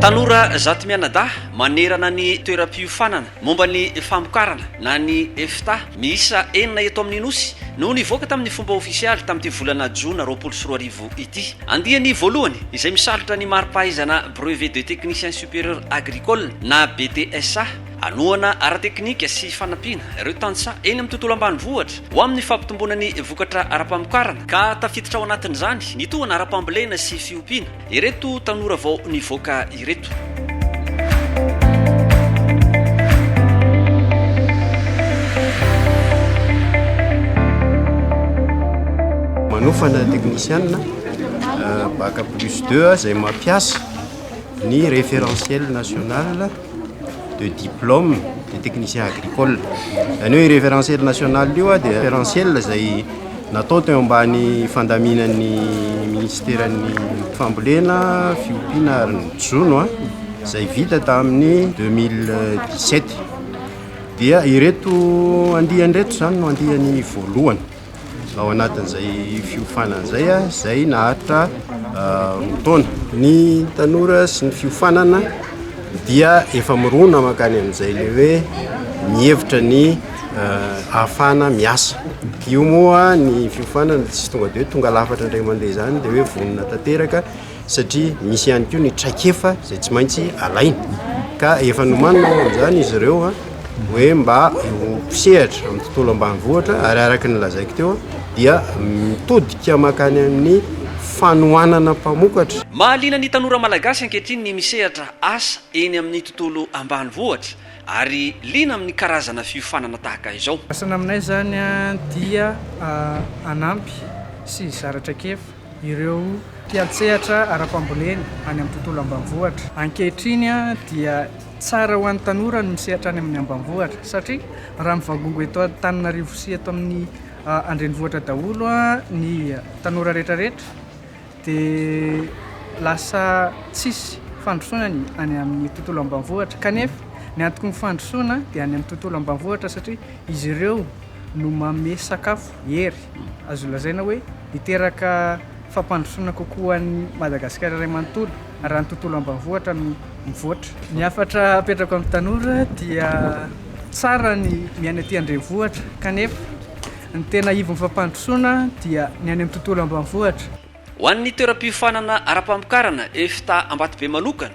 Tanora zato mianadahy manerana ny toeram-piofanana momba ny famokarana na ny EFTA miisa enina eto amin'ny Nosy no nivoaka tamin'ny fomba ofisialy tamin'ity volana jona roapolo sy roa arivo ity. Andiany voalohany izay misalotra ny mari-pahaizana Brevet de Technicien Supérieur Agricole na BTSA. Hanohana ara-teknika sy fanampiana ireo tantsaha eny amin'ny tontolo ambanivohitra ho amin'ny fampitomboana ny vokatra ara-pamokarana ka tafiditra ao anatin'izany ny tohana ara-pambolena sy fiompiana ireto tanora vao nivoaka ireto. Manofana teknisianina Bac plus deux izay mampiasa ny référentiel national. de diplôme de technicien agricole zany hoe référentiel national io a dia référentiel izay natao teo ambany fandaminan'ny ministeran'ny fambolena fiompiana ary ny jono a izay vita tamin'ny 2017 dia ireto andiany ireto izany no andiany voalohany ao anatin'izay fiofanana izay, izay naharitra roa taona. Ny tanora sy ny fiofanana dia efa mirona mankany amin'izay le hoe mihevitra ny ahafahana miasa. Io moa ny fiofanana tsy tonga de hoe tonga lafatra indray mandeha izany de hoe vonona tanteraka satria misy ihany koa ny traikefa izay tsy maintsy alaina ka efa nomanina ao amin'izany izy ireo a hoe mba ho mpisehatra amin'ny tontolo ambanivohitra ary araka ny lazaiko teo dia mitodika makany amin'ny fanohanana mpamokatra Mahaliana ny tanora malagasy ankehitriny ny misehatra asa eny amin'ny tontolo ambanivohitra ary liana amin'ny karazana fiofanana tahaka izao. Asa naminay izany dia hanampy sy hizara traikefa. ireo mpiantsehatra ara-pambolena any amin'ny tontolo ambanivohitra. Ankehitriny dia tsara ho an'ny tanora ny misehatra any amin'ny ambanivohitra satria raha mivangongo eto Antananarivo sy eto amin'ny an-drenivohitra daholo ny tanora rehetrarehetra dia lasa tsisy fandrosoana ny any amin'ny tontolo ambanivohitra kanefa ny antoky ny fandrosoana dia any amin'ny tontolo ambanivohitra satria izy ireo no manome sakafo, hery, azo lazaina hoe. Hiteraka fampandrosoana kokoa ho an'i Madagasikara iray manontolo raha ny tontolo ambanivohitra no mivoatra. Ny hafatra apetrako amin'ny tanora dia tsara ny miaina ety an-drenivohitra kanefa ny tena ivon'ny fampandrosoana dia ny any amin'ny tontolo ambanivohitra. Ho an'ny toeram-piofanana ara-pamokarana, EFTA Ambatobe manokana,